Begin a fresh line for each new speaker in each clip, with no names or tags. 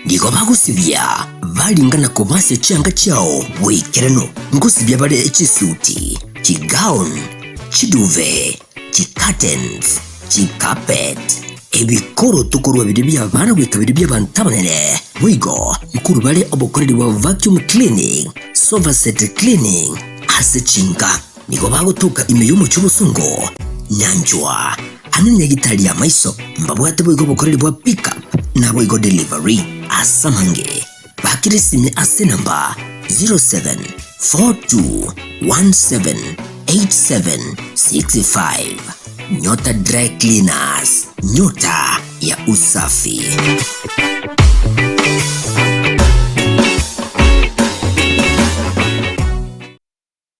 Nigo bagosibia baringana kobasia chianga chiao bw'ekerano, ngosibia bare chisuti, chigown, chiduvet, chicurtains, chicarpet, ebikoroto korwa biria bi'abana goika biria bi'abanto abanene. Boigo nkorwa bare obokoreri bwa vacuum cleaning, sofaset cleaning ase chinka. Nigo bagotuka ime y'omochie obosongo, nyanchwa, amo nenyagitari y'amaiso, mbabwate boigo obokoreri bwa pickup naboigo delivery ase amange. Bakire sime ase enamba 0742178765. Nyota Dry Cleaners, nyota ya usafi.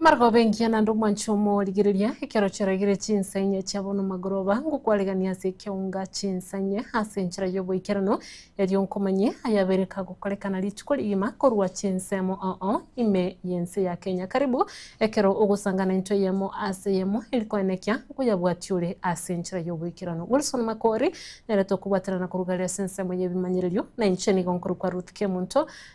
Amarogooba engiya naende omwancho omo origereria, ekero chiraigire chinsa inye chiabo nomagoroba, ngokwaregania ase ekeunga chinsa inye ase enchera y'oboikeranu, erio nkomanye ayabere kagokorekana rituko rigima korwa chinsemo oo ime y'ense ya Kenya. Karibu ekero ogosangana into eyemo ase eyemo eri koenekia nkoyabwatia ore ase enchera y'oboikeranu. Wilson Makori, nere tokobwaterana korwa igare ase ensemo y'ebimanyererio, na inche nigo nkorokwa Ruth Kemunto,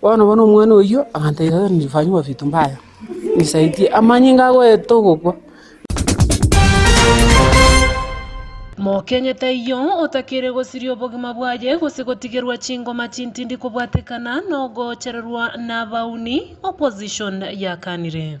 Bono bono omwana oyio agantebia, Tata nifanywa vitu mbaya, nisaidie. Amanyinga agoeta ogokwa.
Mokenye taiyo otakire gosiria obogima bwaye gose gotigerwa chingoma chintindi kobwatekana nogochererwa nabauni, opposition, yakanire.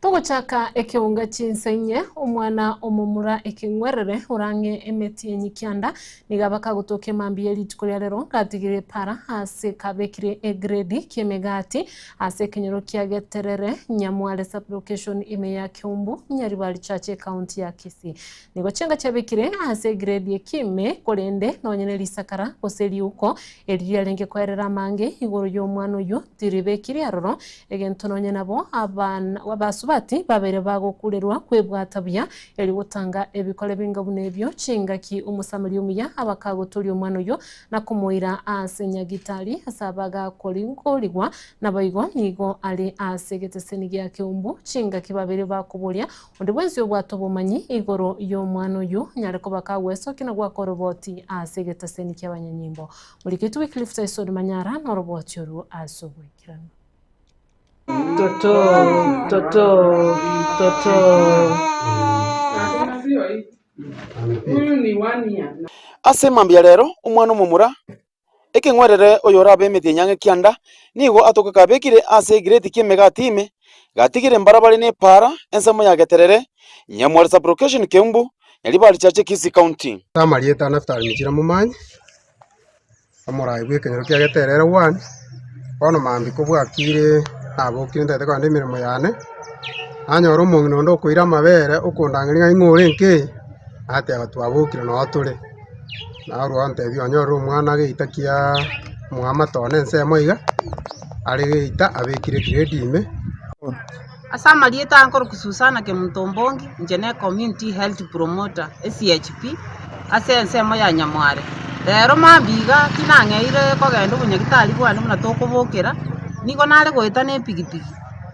Togochaka ekeunga chinsa inye, omwana omomura ekeng'werere, orang'e emeti enye kianda. Nigo bakagotokia emambia ye rituko ria rero, ngatigire epara ase kabekire egredi ki'emegati ase ekenyoro kia Geterere, Nyamware Sub-location ime ya Kiumbu, Nyaribari Church Ekaunti ya Kisii. Nigo chinka chiabekire ase egredi eki ime, korende nonye ne risakara gose riuko eri riarenge koerera amange igoro y'omwana oyio, tiribekirie aroro, Egento nonye nabo abana basubati babeire bagokurerwa kwebwata buya, erio gotanga ebikore binga buna ebio, chingaki Omosamaria omuya abakagotoria omwana oyio na komoira aase nyagitari ase abagakoringorigwa, naboigo nigo are aase egeteseni gia keumbu. Chingaki babeire bakoboria onde bwensi obwate obomanyi igoro y'omwana oyio nyare koba kagwesokia na goaka oroboti aase egeteseni ki'abanyanyimbo. Moriketi Wycliffe Tyson Manyara noroboti orwo asubwe. Toto,
toto, toto.
Ase emambia ya
rero, omwana omomura, ekeng'werere oyorabe emete enyange kianda, nigo atoke kabekire ase egireti ki'emegati ime, gatigire mbarabare ne epaara, ensemo ya Geterere, Nyamware Sub-location Keumbu, Nyaribari Chache Kisii
County.
Ase
amarieta a
Naftali Michira
Momanyi. Omorai bw'ekenyoro kia geterere one, bono mambia kobwakire nabokire ntagete kogenda emeremo yane, nanyora omong'ina onde okoira amabere okondang'aria ng'a ing'o ore nka eye, nateba twabokire noo tore, narwo ontebia onyorire omwana geita kiaa omwamate one ensemo iga, are geita abekire egrade ime. Ase
amarieta aa nkorokwa Susana Kemuntombongi, inche ne Community Health Promoter, SHP, ase ensemo ya Nyamware. Rero mambia iga tinang'eire kogenda obonyagitari bwane buna tokobokera, nigo nare goeta na epigipigi,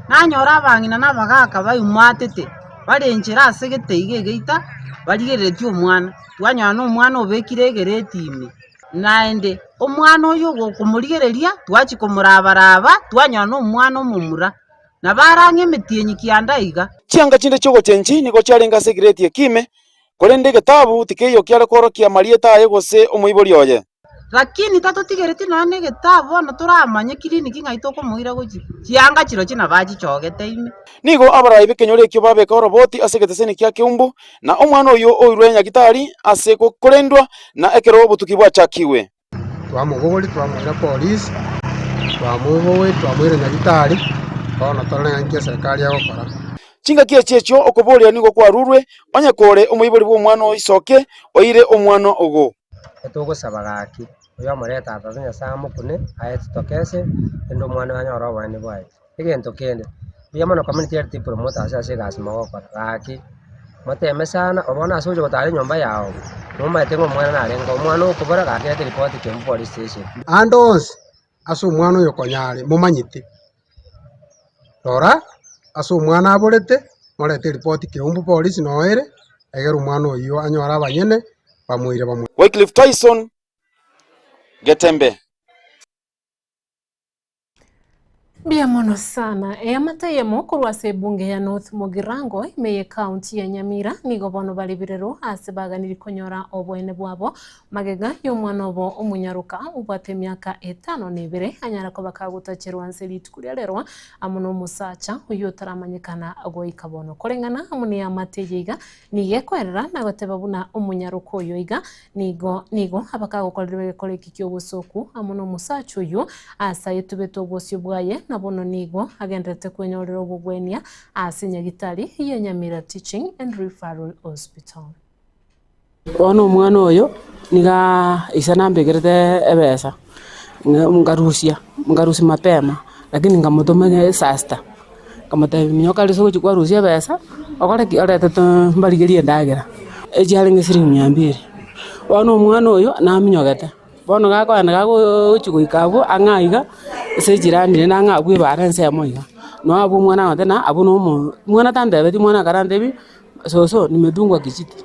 nanyora abang'ina na abagaka baiumatete bare enchera ase egete iga egeita barigereretie omwana. Twanyora na omwana obekire egereti ime, naende omwana oyio okomorigereria twachia komoraba raba twanyora na omwana omomura. Na barang'e emetienyi kianda iga. Chianga chinde chi'ogochenchi
nigo chiarenge ase egireti ekiime, korende egetabu tikeiyo kiare kworokia amarieta aye gose omoibori oye. Lakini
tatotigereti nonya negetabu bono toramanye kiriniki ng'ai tokomoira gochia. Chianga chirochio nabachichogete ime. Nigo abarai b'ekenyoro
ekio babeka oroboti ase egeteseni kia keumbu, na omwana oyio oirwe nyagitari ase korendwa, na ekero obotuki bwachakigwe. Twamobogoria,
twamoira polisi, twamobogoria, twamoira Nyagetari, bono torore ng'a nki eserikari egokora. Chingaki echi
echio okoboria nigo kwarurwe, onye kore omoibori bw'omwana o iso oke oire omwana ogo. Etogosaba
gaki, oyomore Tata oto Nyasae amokune, aye titokese, rende omwana oyo anyore obonene bwaye. Egento kende, mbuya mono community health epromote ase ase egasi mogokora, gaki moteme sana oro bono ase ogocha gotara enyomba yago, momanyete ng'a omwana narengeo, omwana okobora gaki reta report kembu police station. Ande onsi
ase omwana oyo konya are momanyete, rora ase omwana aborete, morete report kembu police noo ere, egere omwana oyio anyore abanyene bamoire bamo. Wycliffe Tyson
Getembe.
Mbuya mono sana. Eamate eyemo korwa ase ebunge ya North Mugirango ime ye county ya Nyamira nigo bono bare birero ase baganiri konyora oboene bwabo magega y'omwana obo omonyaroka obwate emiaka etano na ebere anyare koba kagotacherwa anse rituko ria rerwa amo nomosacha oyio otaramanyekana goika bono. Koreng'ana amo neamate eye iga nigo ekoerera nagoteba buna omonyaroka oyo iga Nigo, nigo abakagokorerwa egekore eki ki'obosooku amo nomosacha oyio, aase ayetubete obosio bwaye, na bono nigo agendererete kwenyorera obogwenia ase nyagitari ye Nyamira Teaching and Referral Hospital.
Bono omwana oyo nigo aa, ise nambekerete ebesa. Nkarusia, nkarusia mapema, lakini nkamotoma nere saa sita, nkamotebia nyoka rirorio ase ogochia kwarusia ebesa, okore ki? Orete too mbarigerie endagera, echiarenge siringi mia mbere. Bono omwana oyo naminyogete, bono gakoenda gagochia goika abwo ang'e aiga, ase ejirani ere nang'e abwo ebare ensemo iga, noo abwo omwana agoteba ng'a abwo nomo, omwana tantebetie, omwana akara antebi, soso, nimetungwa kijiti.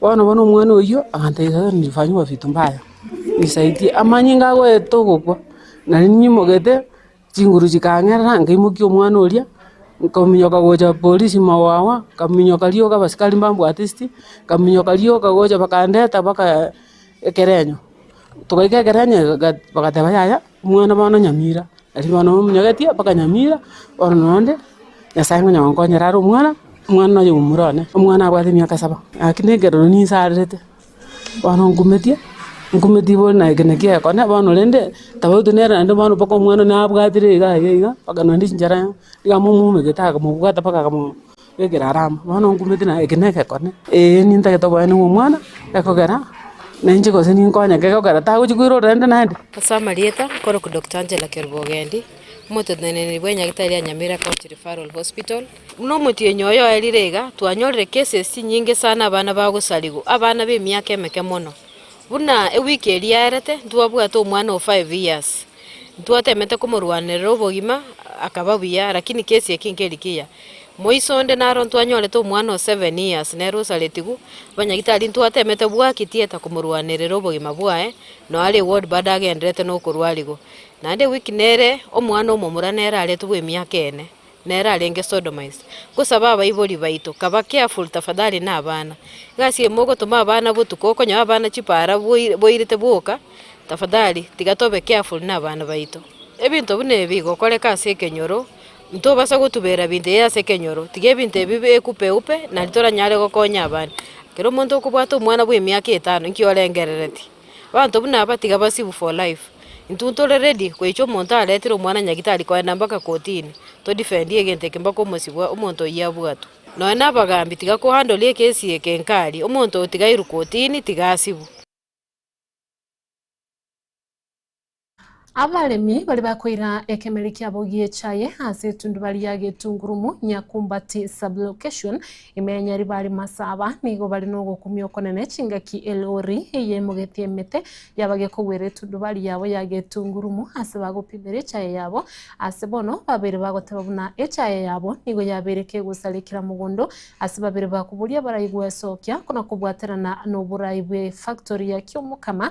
Bono bono omwana oyio agantebia, Nimefanyigwa vitu mbaya, nisaidie. Amanyinga agoeta ogokwa, nari ninyimogete, chinguru chikang'erera, nkaimokia omwana oria, nkominyoka gocha polisi mowawa, nkaminyoka rioka abasikari mbambwate esiti, nkaminyoka rioka gocha bakandeta mpaka ekerenyo. Togaika ekerenyo iga bagateba yaya. Omwana bono nyamira, aria bono bamonyegetie mpaka nyamira, bono na onde, Nyasae ngonya gonkonyera are omwana, omwana nonya omomura one, omwana abwate emiaka saba. Naki nekeroria ninsarerete, bono nkumetie, nkumetie bono na ekero naki gekone, bono rende tabauti nere naende bono mpaka omwana one abwatire iga iga iga, mpaka naende chinchera iga amomoumegete akamobwata mpaka akamo. Egera are amo, bono ngumeti naye eke negekone, ee nintagete oboene bwa omwana, ekogera nainche gose ninkonyeke ekogera tagochi koira ororende naende. Ase amarieta,
nkorokwa Doctor Angela Kerubogendi, omoteneneri bwa enyagetari ya Nyamira County Referral Hospital. Buna omotienyi oye oerire iga, twanyorire cases chinyinge sana abana bagosarigwa, abana b'emiaka emeke mono. Buna ewiki eria yaerete, ntwabwate omwana o five years, ntwatemete komorwanerera obogima, akaba buya, lakini case eke nkeri kiya. Moiso onde naro ntwanyorete omwana o seven years, nere osaretigu, abanyagitari ntwatemete bwaki theatre komorwanerera obogima bwaye, noo are ward bado agendererete nokorwa arigo. Naende ewiki nere omwana omomura nere aretwe bw'emiaka ene, nere arenge sodomized. Nkosaba abaibori baito, kaba careful tafadhali na abana. Egasi eye mogotoma abana botuko okonyora abana chipara boire boirete boka, tafadhali tiga tobe careful na abana baito. Ebinto buna ebi igokoreka ase ekenyoro, Ntobasa gotubera ebinto ebi ase ekenyoro, tiga ebinto ebi bekupe-upe, naende toranyare gokonya abande. Ekero omonto okobwata omwana bw'emiaka etano, inki orengereretie? Abanto buna aba tiga basibwe for life. Intwe ntore ready goicha omonto aretire omwana nyagitari kogenda mpaka kotini, todefendie egento eke mpaka omosibwa omonto oyio abwatwe. Nonya na abagambi tiga ko handle ekesi eke nkari, omonto otigairwe kotini tiga asibwe.
Abaremi baria bakoira ekemeri kiabo gi'echaye ase etundubaria ya getungurumu, Nyakumbati Sub-location, Imenyari bare Masaba, nigo bare nogokumia okonene chingaki elori eyemogetie emete yaba gekogwera etundubaria yabo ya getungurumu ase bagopimera echaye yabo ase bono babeire bagoteba buna echaye yabo nigo yabeire kegosare kera mogondo ase babeire bakoboria baraigwe sokia na kobwaterana noborai bwe factory ya kiomokama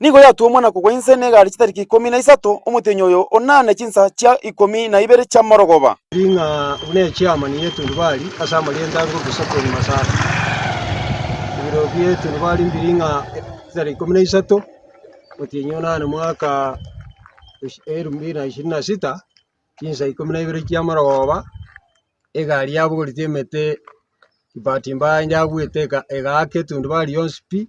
Nigo yatuomwa na kogwa inse negari chitariki ikomi na isato, omotienyi oyo ona ne chinsa chia ikomi na ibere chi'amorogoba. Ring'a buna
echiamani y'etundubari ase amarieta a ngubi Sokoni Masaba. Ebiro bi'etundubari mbi ring'a chitariki ikomi na isato, omotienyi ona ne mwaka elfu mbili na ishirini na sita, chinsa ikomi na ibere chi'amorogoba, egari yabogoreti emete, kibati mbaye yabwete egaaka etundubari yonsi pi.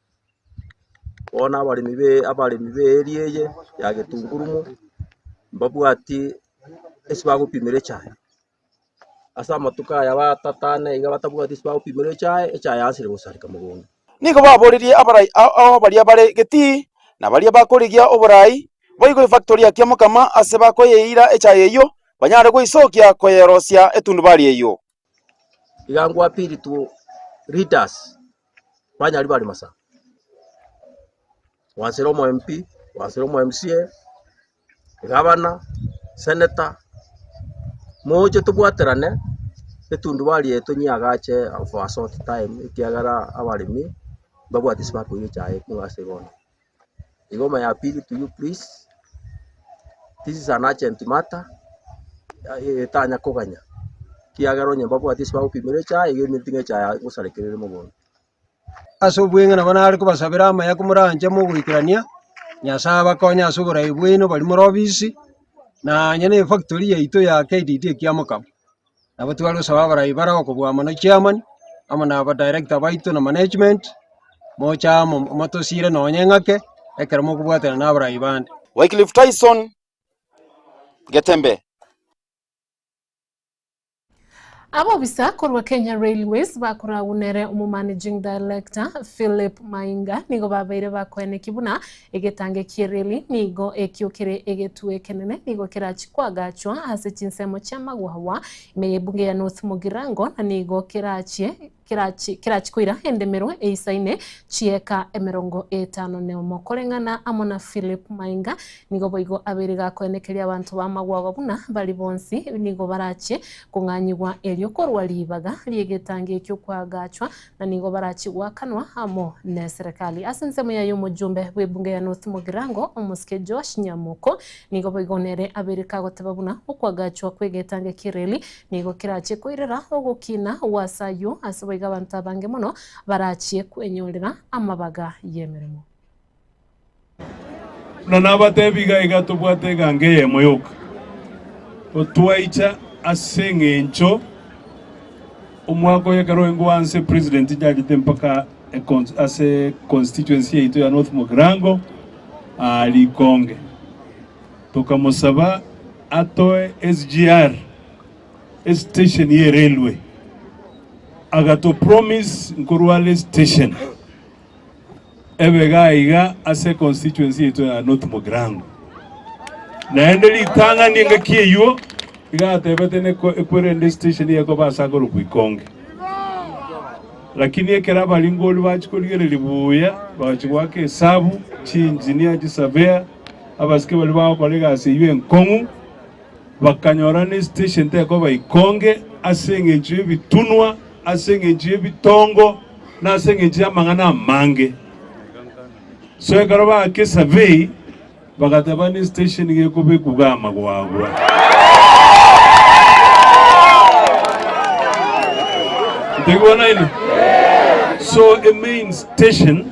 Bono abaremi be abaremi b'eeri eye ya getungurumu, mbabwati ase bagopimera echae, ase amatuko aya batatane iga batabwati ase bagopimera echae, echae yansire gosareka mogondo. Nigo baborerie
abarai a- ao baria bare Getii, na baria bakorigia oboraai, boigwe efactori ya Kiamokama ase bakoyeira echae eyio, banyare goisokia koyerosia etundubari eyio. Iga
ngwa pili tu leaders banyari bari masa gwansera omo MP gwansera omo MCA gabana senator moche tobwaterane etundubari eye tonyeagache for a short time ekiagera abaremi mbabwate ase bakoiyo echae kong'u ase bono. Igoma ya pili to you please. This is an urgent matter. Eh, Etanya koganya. Kiagera onye mbabwati ase bagopimera echae, iga eminti ng'echa ya gosarekerera mogondo. Ase
obweng'e nabo nare kobasabera amaya komoranche mogoikerania, Nyasae abakonye ase oborai bwaino baria more obisi, na onye ne efactori yaito ya KDD ekiamokama. Nabo tware gosaba abarai bare okobua amano chairman, amo na aba director baito na management, moche amo motosiire nonye ng'ake, ekero mokobwatana na abarai bande. Wycliffe Tyson
Getembe.
Abobisa korwa Kenya Railways bakoragunere omomanaging director Philip Mainga nigo babeire bakoenekia buna Egetangi kie reli nigo ekio kere egetwe ekenene, nigo kerachie koagachwa ase chinsemo chi'amagwagwa ime y'ebunge ya North Mugirango, na nigo kerachie kerachie kerachie koira endemero eisaine chi'eka emerongo etano na omo. Koreng'ana amo na Philip Mainga, nigo boigo abeire gakoenekeria abanto b'amagwagwa buna bari bonsi nigo barachie kong'anyigwa erio korwa ribaga ri'egetangi ekio koagachwa na nigo barachie goakanwa amo neserekari. Ase ensemo yaye omojumbe bw'ebunge ya North Mugirango, omosike Joash Nyamoko, nigo boigo nere abeireke agoteba buna okwagachwa kw'egetanga ekereli nigo kerachie koirera ogokina gw'ase ayio ase boigo abanto abange mono barachie kwenyorera amabaga y'emeremo.
Buna nabatebi iga iga tobwate eganga eyemo yoka gotwaicha ase eng'encho omwaka oyo ekero oeng'we wa nse president inchachete mpaka econs- ase constituency yaito ya North Mogirango aa Likonge. Tokamosaba atoe SGR, estation ye railway, agatopromise nkorwa are station. Ebega iga ase constituency yaito ya North Mugirango. Naende ritang'ani engaki eyuo igatebete neko ekwere ende station yekoba ase akorokwa Ikonge. Lakini ekero abaringori bachia korigereria buya, bagachia goaka esabu, chi engineer, chi surveyor, abasike baria bagokora egasi eyio enkong'u, Bakanyora nestation tekoba ikonge ase engencho y'ebitunwa, ase engencho y'ebitongo, na ase engencho y'amang'ana amange. So ekero baaka esurvey, bagateba nestation nigo ekoba ekuga amagwagwa. Ntigwa naino? So emain station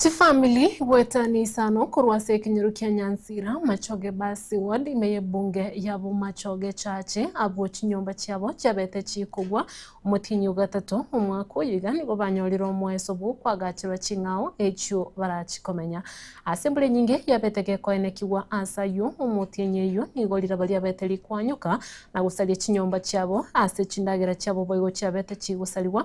Chifamili goeta ne isano korwa ase ekenyoro kia Nyansira, Machoge Basi Ward, ime y'ebunge ya Bomachoge Church, abwo chinyomba chiabo chiabete chikogwa omotienyi o gatato omwaka oyo iga nigo banyorire omoeso bw'okoagacherwa ching'ao echio barachikomenya. Ase embura enyinge yabete gekoenekigwa ase ayio omotienyi eyio nigo riraba riabete rikoanyoka na gosaria chinyomba chiabo ase chindagera chiabo boigo chiabete chigosarigwa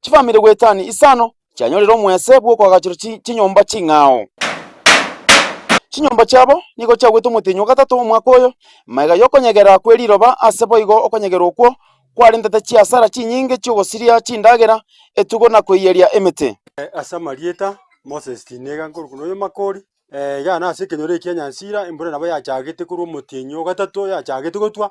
chifamiri goetani isano chianyorire omwese bw'okoagachora chi- chinyomba ching'ao. Chinyomba chiabo nigo chiagwete omotenyi o gatato omwaka oyo, magega y'okonyegera kwe riroba ase boigo okonyegera okwo kwarentete chiasara chinyinge chi'ogosiria chindagera, etugo na koiyeria emete. Ase amarieta,
Moses tinega nkorokwa noyo Makori, iga nase ekenyoro ekia Nyansira embura nabo yachagete korwa omotienyi o gatato yachagete gotwa.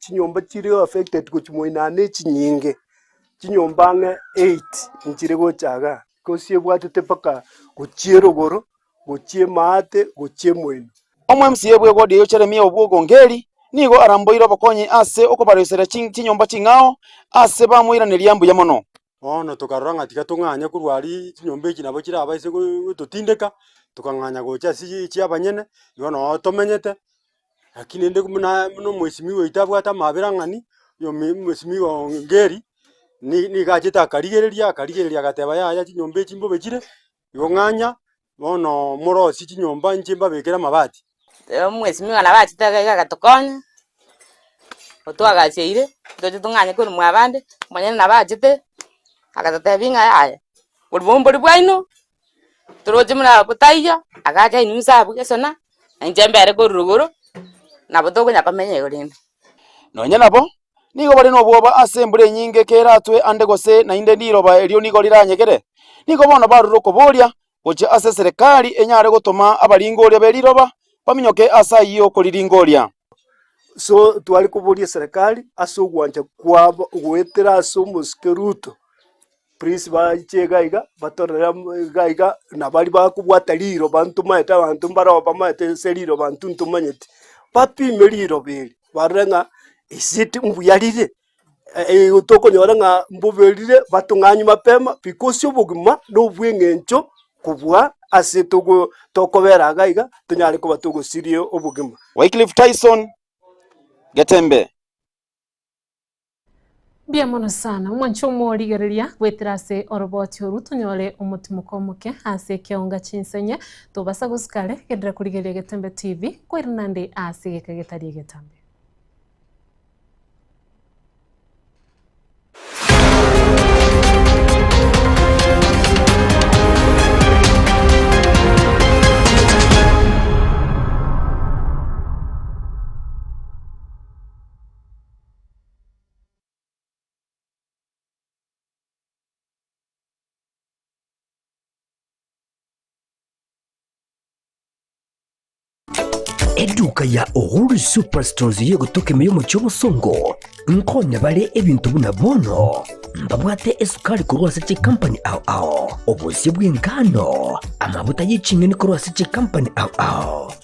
Chinyomba chiri
affected gochia moinaa nechinyinge, chinyomba ang'e eight nchire gocha iga, gose ebwatete mpaka gochia erogoro, gochia emaate, gochia emoino. Omwemsiya bwe
wodi eyio Jeremia Obwogongeri nigo aramboire obokonyi ase okobaroiseria chinyomba ching'ao ase bamoiraneria mbuya mono. Bono tokarora ng'a
tiga tong'anye korwa aria chinyomba echi nabo chiraba ase gooo gototindeka, tokang'anya gocha ase eye chiabanyene, igo noo tomenyete, lakini rende buna buna omwesimi oito abwate amabera ang'ani, oyomi omwesimi oo ngeri, ni nigo achete akarigereria akarigereria agateba yaya chinyomba echi mbobe chire. Igo ng'anya bono morosie chinyomba inche mbabekere amabati. Erio omwesimi oye
nabachete agaiga agatokonya, otwagacheire toche tong'anye korumwa abande, omonyene nabachete agatotebia ng'a yaya, obombori bwaino toroche buna abwo taiyo, agacha enusa abwo gesona, na inche mbere korwa igoro, nabo tokonya komenya igo rende. Nonya nabo nigo
bare nobwoba ase embura enyinge keratwe ande gose naende riroba erio nigo riranyegere, nigo bono barure okoboria gochia ase eserekari enyare gotoma abaringoria be riroba baminyoke ase ayio koriringoria. So
tware koboria eserekari ase ogwancha kwabo goetera ase omosike Ruto. Prince baiche iga iga batorere mm iga iga nabari bakobwata riroba ntomanyete abanto mbareo bamanyete ase riroba intwe ntomanyeti, bapime riroba eri barore ng'a is it mbuya rire? Eeigo tokonyora ng'a mbobe rire batong'anywe mapema because obogima na obweng'encho kobua ase togo tokobera iga iga tonyare koba togosiria obogima. Wycliffe Tyson,
Getembe.
Mbuya mono sana, omwanche omorigereria, goetera ase oroboti oru tonyore omotimoko omoke ase ekeonga chinsa inye, tobasa gosuka are, genderera korigereria Getembe TV, kweri nande ase egeka getari egetambe.
Eduka ya Uhuru Superstores yegotokemia y'omochie obosongo nkonye bare ebinto buna bono mbabwate esukari korwa ase chikampani ao ao obosio bw'engano amabuta y'eching'eni korwa ase chikampani ao ao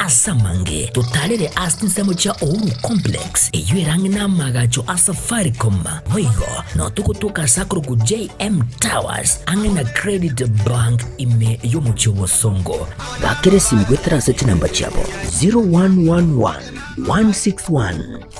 Ase amange totarere ase chinsemo chia Uhuru Complex, eyio erang'e n'amaagacho a Safaricom, boigo no togotoka ase akorokwa JM Towers ang'e na Credit Bank ime y'omochie o Bosongo. Bakera esimu goetera ase chinamba chiabo 0111 161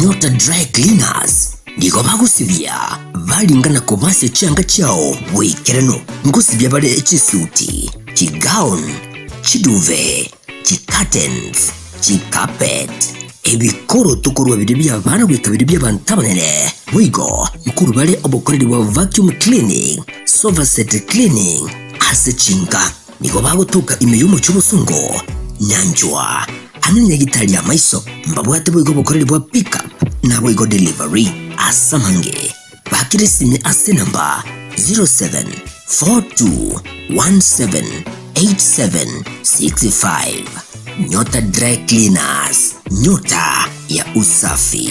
Nyota Dry Cleaners nigo bagosibia baringana kobasia chianga chiao boikeranu. Ngosibia bare chisuti, chigown, chiduve, chicurtains, chicarpet, ebikoroto korwa bire bi'abana goika bire bi'abanto abanene. Boigo nkorwa bare obokoreri bwa vacuum cleaning, sofa set cleaning ase chinka. Nigo bagotuka ime y'omochie obosongo, nyanchwa, ang'e nyagitari y'amaiso, mbabwate boigo obokoreri bwa pickup, naboigo delivery ase amange. Bakera esime ase enamba 0742178765. Nyota Dry Cleaners, nyota ya usafi.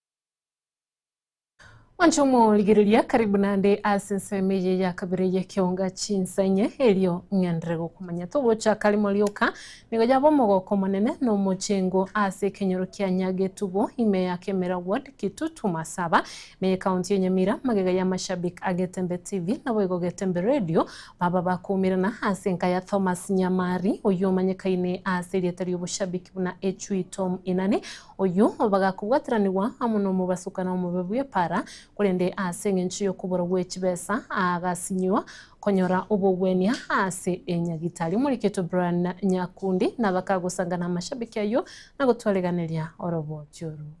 Monto omorigereria, karibu nande ase ensemo eye ya kabere y'ekeonga chinsa inye, erio ng'enderere gokomanya. Togochaka rimo rioka, nigo yaba omogoko omonene na omochengo ase ekenyoro kia Nyagetubo, ime ya Kemera Ward, Kitutu, Masaba, ime y'Ekaunti ya Nyamira, magega ya Mashabik a Getembe TV, naboigo Getembe Radio, baba bakoumerana ase enka ya Thomas Nyamari, oyio omanyekaine ase erieta ri'oboshabik buna Echui Tom Inani, Oyio bagakobwatiranigwa amo nomobasuka na omobe bw'epaara, korende ase engencho y'okoborwa gwe chibesa agasinyiwa konyora obogwenia ase enyagitari omoriketwe Brian Nyakundi, na bakagosanga namashabiki ayio na gotwareganeria oroboti orwo.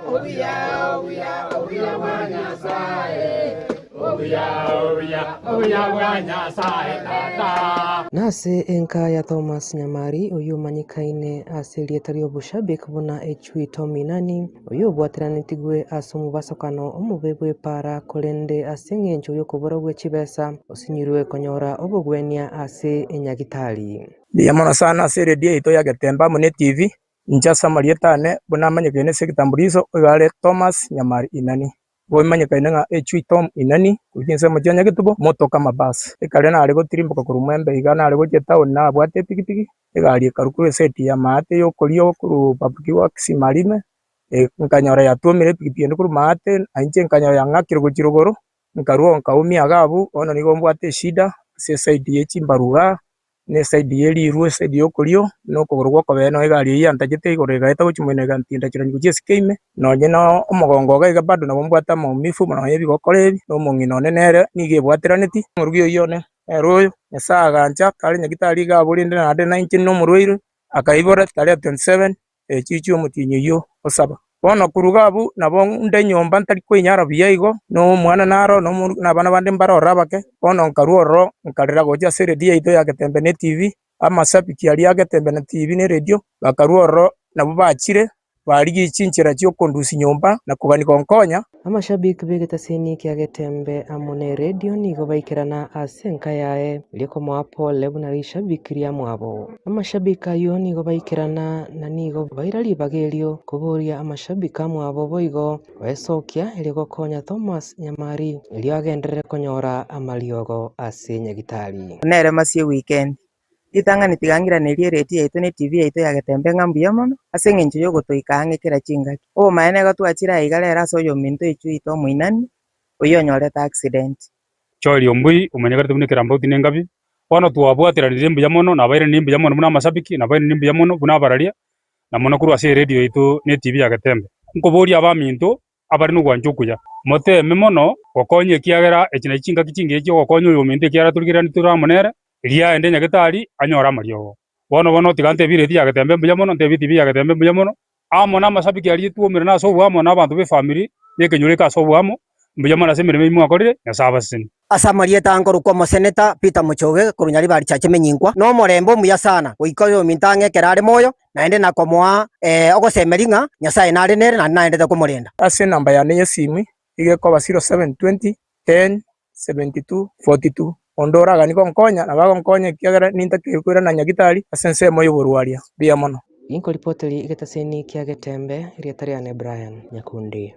Obuya, obuya, obuya bwa Nyasaye.
Obuya, obuya, obuya bwa Nyasae Tata. Nase enka ya Thomas Nyamari, oyio omanyikaine ase erieta ri'oboshabik buna Echui Tom Inani, oyio obwateranetigwe ase omobasokano omobe bw'epaara korende ase eng'encho y'okoborwa gwe chibesa osinyirwe konyora obogwenia ase enyagitari. Mbuya mono sana
ase eredio yaito ya Getembe amo ne TV. Inche ase amarieta ane, buna amanyekaine ase ekitambuliso, oyo are Thomas Nyamari Inani. Bwemanyekaine ng'a echwe ito Inani, korigia ense y'omochie wa Nyagetubo, motoke amabasi. Ekare nare gotirimboka korwa Mwembe iga nare gochia etaoni nabwate epikipiki, egari ekarwa korwa eseti y'amaate y'okorio korwa Bapki goa Kisimarime, nkanyora yatuomire epikipiki ende korwa amaate, na inche nkanyora yang'akire gochia rogoro, nkarwa oo nkaumia iga abwo, bono nigo mbwate eshida ase esaidi ye chimbaru igaa, na esaidi ye riirwe, esaidi y'okorio, na okogoro gw'okobee nao egari eyio yantachete igoro egaeta gochia moino egantinda chirangi gochia esike ime, nonye na omogongo oga iga bado nabo mbwate amaumifu buna onye ebigokora ebi, na omong'ina one nere nigo ebwateraneti. Omorugi oyio one ere oyo Nyasae agancha, tari nyagitari iga abore, inde naende nainche ninde omorwaire, akaibora, Taria 27. Echichi omotienyi oyio osaba. Bono koruga abwo nabo nde nyomba ntari koinyara buya igo, na omwana naro, na omorwoti, na abana bande mbare ororo abake. Bono nkarua ororo, nkarera gocha ase eredio yaito y'egetembe na etv, amashabiki aria y'egetembe na etv na eredio, bakarua ororo, nabwo bachire, barigia chinchera chi'okondusia nyomba, na kogania gonkonya. Amashabik
b'egetasini ekia Getembe amo neredio nigo baikerana ase enka yaye eria komoa pole buna rishabik riamwabo. Amashabik ayio nigo baikerana na nigo baira ribaga erio koboria amashabik amwabo boigo baesokia erio gokonya Thomas Nyamari erio agenderere konyora amariogo ase nyagitari. Nere masiegwe
ikendi, Ritang'ani tigang'iranerie eredio yaito na etibi yaito ya getembe ng'a mbuya mono, ase engencho y'ogotoika ang'e kera chingaki. Obomaene nigo twachire aiga rero ase oyominto oichwe oito omoinani, oyio onyorete accident. Chori ombui
omanyekanete buna ekerambauti na engabi, bono twabwateranirie mbuya mono na abairani mbuya mono buna amashabiki na abairani mbuya mono buna abararia, na mono korwa ase eredio yaito na etibi ya getembe. Nkoboria abaminto, abare nogwancha okuya. Moteeme mono gokonya ekiagera echi nachi chingaki chingiya chi'ogokonya oyominto ekiagera torigererani tore amo nere, eria aende nyagetari anyore amariogo. Bono bono tiga ntebie erieti ya getembe mbuya mono, ntebie etv ya getembe mbuya mono, amo namasabiki aria twomire nase oboamo na abanto b'efamiri y'ekenyoro eke ase oboamo mbuya mono ase emeremo eyio mwakorire, Nyasae abasesenie. Ase amarieta ankorokwa
Omoseneta Peter Mochoge korwa Nyaribari cha Chimenyinkwa, na omorembe omuya sana goika oyominto ang'e ekero are moyo, naende nakomoa ogosemeria ng'a Nyasae nare nere naende naendete komorenda. Ase enamba yane
y'esimu nigo ekoba 0720 10 72 42. Onde oraganie gonkonya nabo agonkonya ekiagera nintakeirwe koirana na nyagitari ase ensemo y'oborwaria. Mbuya mono. Ninkoripotiri
egetaseni kia getembe, erieta riane Brian Nyakundi.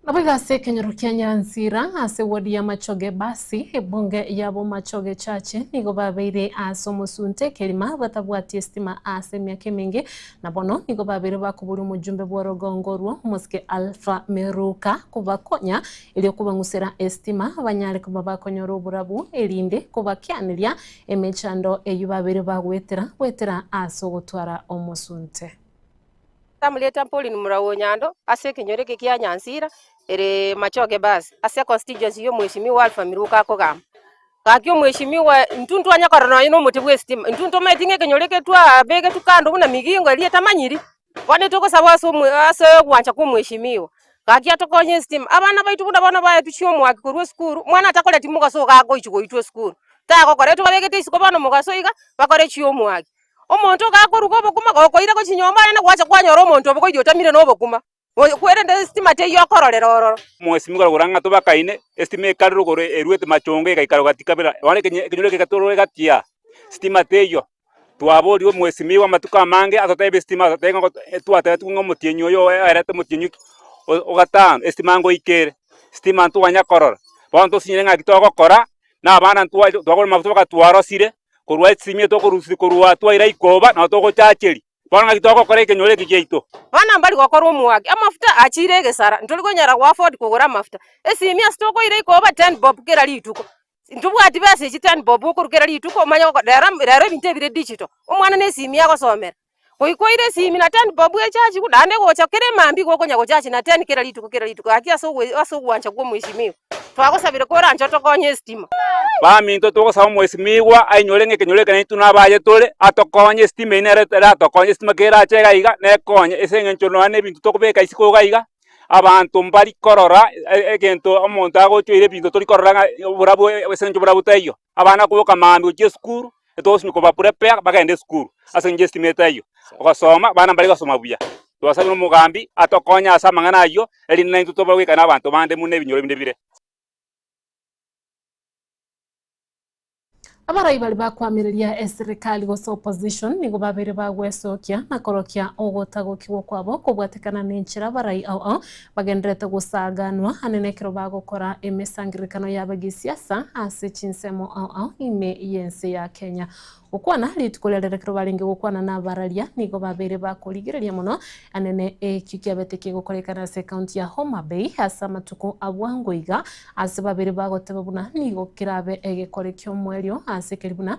Naboigo ase ekenyoro kia Nyansira ase ward ya Machoge Basi, ebunge yabo Machoge Chache nigo babeire ase omosunte ekerima batabwati estima ase emiaka emenge na bono nigo babeire bakoboria omojumbe bworogongo orwo omosike Alpha Meruka kobakonya erio kobang'usera estima banyare koba bakonyora oborabu erinde kobakianeria emechando eyio babeire bagoetera goetera ase ogotwara omosunte.
Tamureta mpori nomorau o Nyando ase ekenyoro eke kia Nyansira ere Machoge Bus ase econstituency ya omweshimiwa Alpha Miruko akogamba. Gaki omweshimiwa intwe ntwanya korora nonya nomote bwa esitima intwe ntomanyeti ng'a ekenyoro eke twabegetwe kando buna migingo eria etamanyiri bono etogosaba ase omwe ase ogwancha kwa omweshimiwa gaki atokonye esitima. Abana baito buna bono baetusia omwaki korwa esukuru omwana atakoreti mogaso iga agochi goitwa esukuru tagokora etwe babegete isiko bono mogaso iga bakore chiomwaki Omonto ogakoruga obokima gokoira gochia nyomba yane gwacha kwanyora omonto obogoria otamire nobokima, korende esitima teiyo okororera ororo. Omosemi korwa Gorang'ato
bakaine, esitima ekarerwa igoro eruete machongo egaikara gati kabera, nonya ekenyoro kegatorora egati ya sitima teiyo. Twaboria omosemi oye bw'amatuko amange atotebe esitima atotebe ng'a twatebetigwe ng'a omotienyi oyo oerete omotienyi o gatano esitima ngoika ere, esitima ntoganya korora. Bono ntosinyire ng'a eki togokora na abana ntwa twagora mafuta bakatwarosire korwa ase chimie tokorusia korwa twaira ikoba nao togochacheri bono ng'aki togokora ekenyoro eke giaito. Bono mbari gokora
omwake, amafuta achiire egesara, ntori konyara kuafford kogora amafuta. Esimie ase tokoira ikoba ten bob kera rituko, ntobwati besa echi ten bob okoru kera rituko omanye rero rero ebinto ebire digital, omwana na esimie agosomera. Oikoire esimi na teni bob echachi igo naende gocha kere mambia igo okonya gochachi na teni kera rituko kera rituko gaki ase ogo- ase ogwancha kwa omwesimiwa. Twagosabire koranche otokonye estima. Baminto
togosaba omwesimigwa ainyore ng'a ekenyoro ekenene intwe na abaye tore, atokonye estima eyio nere eratokonye estima ekero erache iga iga nekonye ase eng'encho nonya na ebinto tokobeka isiko iga iga, abanto mbari korora e- egento omonto agochoire ebinto tori korora ng'a oborabu ase eng'encho oborabu taiyo. Abana koboka mambia gochia esukuru, Etogosimia kobaprepare bagende esukuru ase engencho y'esitimaete ayio, gosoma, abana mbare gosoma buya. Twasabire omogambi atokonye ase amang'ana ayio, erinde naintwe tobe goika nabanto bande buna ebinyoro binde bire.
Abarai baria bakoamereria eserikari gose opposition nigo babeire bagwesokia na korokia ogotagokigwa kwabo kobwatekana nenchera abarai ao ao Bagenderete gosaaganwa ane nekero bagokora emesangererekano y'abagisiasa ase chinsemo ao ao ime y'ense ya Kenya. Gokwana rituko riaria rekero barenge gokwana nabararia nigo babeire bakorigereria mono ane ne ekio kiabete kegokorekana ase ekaunti ya Homa Bay ase amatuko abwango iga ase babeire bagoteba buna nigo kerabe egekore ki'omoerio ase keri buna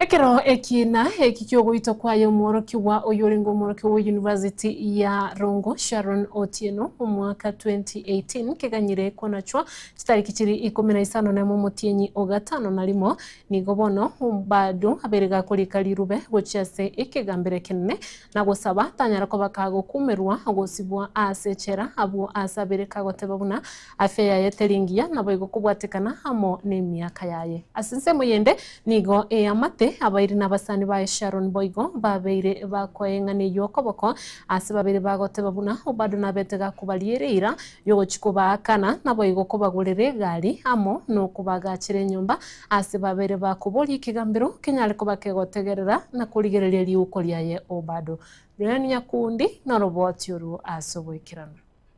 Ekero ekiina eki ki'ogoitwa kwaye omworokigwa oyorenge omworokigwa bwe University ya Rongo, Sharon Otieno, omwaka 2018 keganyire konachwa, chitariki chiri ikomi na isano na emo omotienyi o gatano na rimo, nigo bono bado abere gakorika rirube gochia ase ekegambero ekenene na gosaba tanyara koba kagokumerwa gosibwa aase echela, abwo aase abere kagoteba buna Afya yaye teri engiya, naboigo kobwatekana amo nemiaka yaye. Ase ensemo eyende nigo eamate abairi na abasani baye Sharon boigo babeire bakoa eng'ana eyio okoboko aase babeire bagoteba buna Obado nabete gakobariere eira yogochia kobaakana naboigo kobagorera egari amo nokobagaachera enyomba aase babeire bakoboria ekegambero kenyare koba kegotegerera na korigereria riuko riaye Obado. Brian Nyakundi noroboti oruo aase ogoikerana.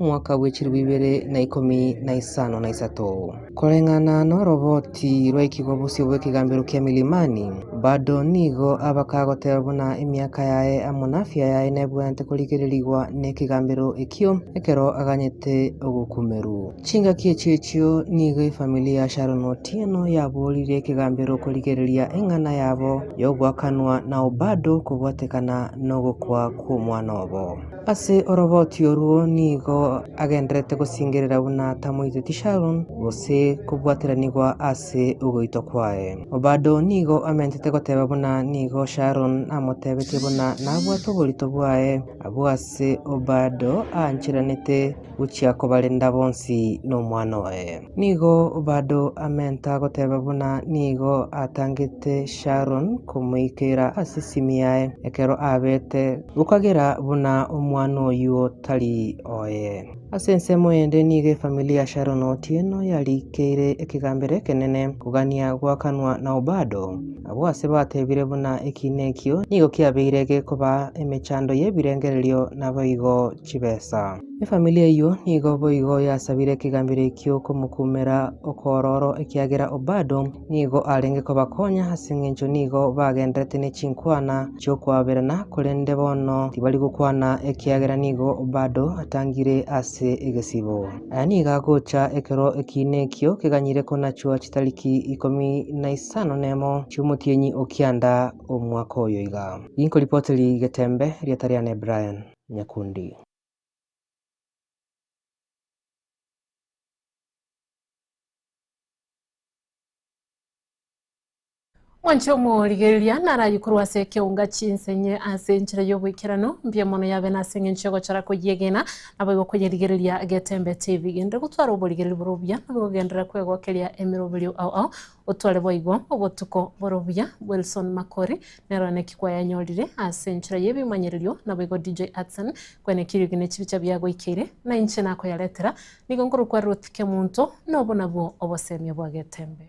Omwaka bwe chilifu ibere na ikomi na isano na isato, koreng'ana noroboti rwaikigwa bosio bw'ekegambero kia milimani, bado nigo abake agoteba buna emiaka yaye amo nafia yaye nebwenerete korigererigwa nekegambero ekio, ekero aganyete ogokumerwa. Chingaki echio echio nigo efamiri ya Sharon Otieno yaboorire ekegambero korigereria eng'ana yabo yogoakanwa nao bado kobwatekana nogokwa kwomwana obo. Ase oroboti orwo nigo agendererete gosingerera buna tamoiteti Sharon gose kobwateranigwa ase ogoitwa kwaye. Obado nigo amentete goteba buna nigo Sharon amotebetie buna nabwate oborito bwaye. Abwo ase Obado aancheranete. gochia kobarenda bonsi nomwana oye. Nigo bado amenta goteba buna nigo atangete Sharon komoikera ase esimi yaye ekero abeete gokagera buna omwana oyuo tari oye. Ase ensemo ende nigo efamili ya Sharon Otieno yarikeire ekegambero ekenene kogania goakanwa nao bado. Abwo ase batebire buna ekiina ekio nigo kiabeire gekobaa emechando y'ebirengererio naboigo. chibesa. Efamili eyio nigo boigo yasabire ekegambero ekio okomokumera okoororo ekiagera Obado nigo arenge kobakonya ase engencho nigo bagenderete ne chinkwana chi'okwaberana korende bono tibari gokwana ekiagera nigo Obado atangire ase egesibo. Aya nigo agocha ekero ekiina ekio keganyire konachua chitariki ikomi na isano nemo chi'omotienyi o kianda omwaka oyo iga. Rinkoripoteri getembe riatariane Brian. nyakundi.
Mwanche omorigereria naraye korwa ase ekeunga chinse enye ase enchera y'oboikeranu, mbuya mono yabe nase engencho y'ogochara koyiegena, naboigo koyerigereria getembete ebi. Genderera gotwara oborigereria bore obuya, naboigo genderera kwegokeria emeroberio ao ao, Otware boigo obotuko bore obuya, Wilson Makori, nero naki kwayanyorire ase enchera y'ebimanyererio, naboigo DJ Atsan, kwene kiriogi ne chibicha biagoikeire, na inche nakoyaretera, nigo nkorokwa Ruth Kemunto, na obo nabwo oboseemia bwa getembe.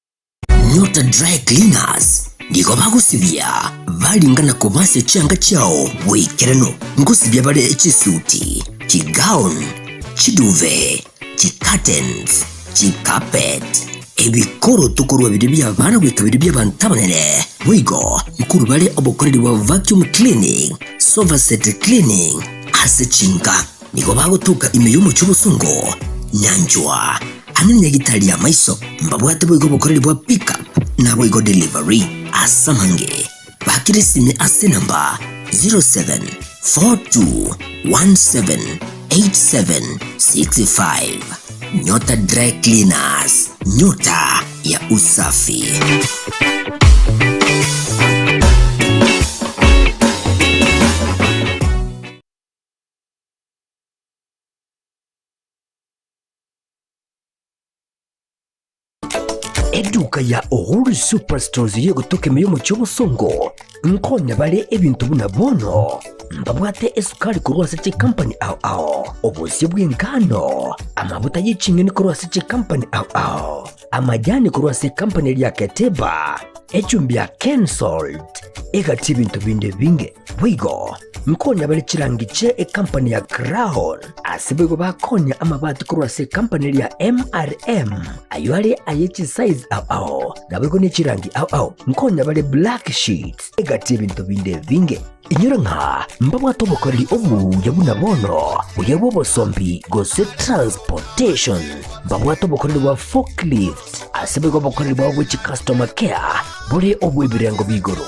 Nyota Dry Cleaners nigo bagosibia baringa na kobasia chianga chiao boikeranu ngosibia bare chisuti, chigown, chiduve, chicurtains, chicarpet, ebikoroto korwa bire bi'abana goika bire bi'abanto abanene. Boigo nkuru bare obokoreri bwa vacuum cleaning, sofa set cleaning ase chinka. Nigo bagotoka ime y'omochie bosongo, nyanchwa, Amo negita ria maiso mbabwate boigo obokoreri bwa pick up naboigo delivery ase amangere bakire sime ase enamba 0742178765 nyota dry cleaners nyota ya usafi Eduka ya Uhuru Superstores iri egotoka ime y'omochie obosongo nkonye bare ebinto buna bono mbabwate esukari korwa ase chikampani ao ao obosio bw'engano amabuta y'eching'eni korwa ase chikampani ao ao amajani korwa ase ekampani eria Keteba echumbi ya Kensalt egati ebinto binde binge Boigo nkonya bare chirangi chia ekampani ya Crown, ase boigo bakonya amabati korwa ase ekampani eria MRM, ayio are aye chisize ao ao, naboigo ne chirangi ao ao, nkonya bare black sheets egati y'ebinto binde ebinge. Inyora ng'a mbabwate obokoreri obuya buna bono, buya bw'obosombi gose transportation, mbabwate obokoreri bwa forklift, ase boigo obokoreri bwabo bwe chicustoma care bore obw'ebirengo bi'igoro.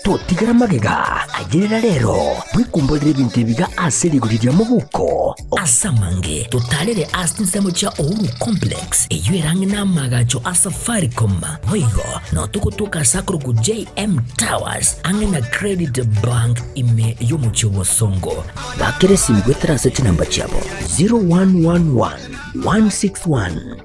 Totigara magega ayerera rero, bwekumborere ebinto ebiga ase rigori ria mobuko. Ase amange totarere ase chinsemo chia Uhuru Complex, eyio ere ang'e na amaagacho a Safaricom. Boigo notogotoka ase akorokwa JM Towers ang'e na Credit Bank ime y'omochie o Bosongo. Bakera esimu goetera ase chinamba chiabo 0111 161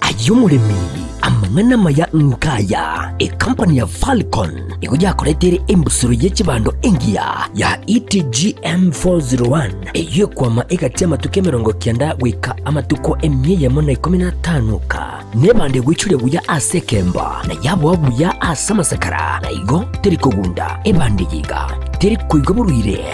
Ay'omoremi, Amang'ana amaya ngaya, Ekampani ya Falcon nigo yakoreteire embusuro ye chibando engiya ya ETGM401 eyio ekwama egati amatuko emerongo kianda goika amatuko emia eyemo na ikomi na atano ka. Nebande egwechuria buya ase ekemba, na yaboa buya ase amasakara, na igo teri kogunda, ebande iga teri koigwa boruire.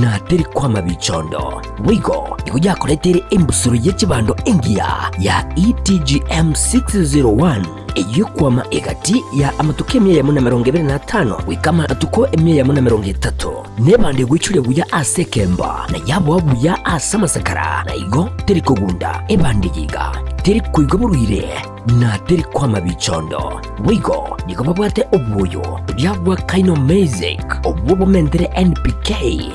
na teri kwama bichondo. Boigo nigo yakoretere embusuro ye chibando engiya ya ETGM 601 ey'okwama egati ya amatuko emia yamo na emerongo ebere na atano goika amatuko emia yamo na emerongo etato, na ebando egwechire buya ase ekembo, na yaboa buya ase amasakara, na igo teri kogunda ebando eye iga teri koigwa boruire. na teri kw'amabicho ondo, boigo nigo babwate obwoyo oria bw'akaino Maizeik, obwo bomentire NPK,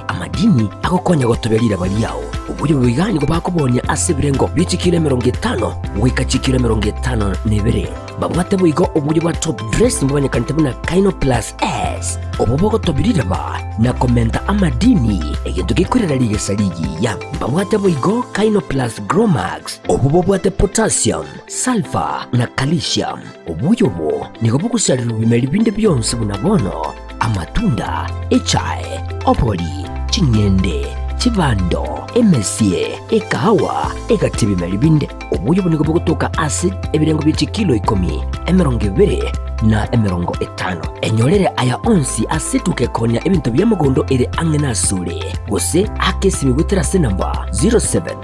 amadini agokonya gotobia riraba riao. Oboyo boiga nigo bakobonia ase ebirengo bie chikiro emerongo etano goika chikiro emerongo etano na ibere. Babwate boigo obwoyo bwa top dress bomanyekanete buna Kaino Plus S, obwo bogotobia riraba na komenta amadini, egento gekoirera rigesa rigiya. Babwate boigo Kaino Plus Grow Max, Obwo bobwate potassium, sulphur, na calcium. Obuya obo nigo bogosarerwa bimeri binde bionsi buna bono, amatunda, echae, obori, ching'ende, chibando, emesie, ekahawa, egati ebimeri binde. Obuya obo nigo bogotoka ase ebirengo bie chikilo ikomi, emerongo ebere, na emerongo etano. Enyorere aya onsi ase etuka ekonya ebinto bia mogondo ere ang'e nasore, gose ake esimigwe terase namba 07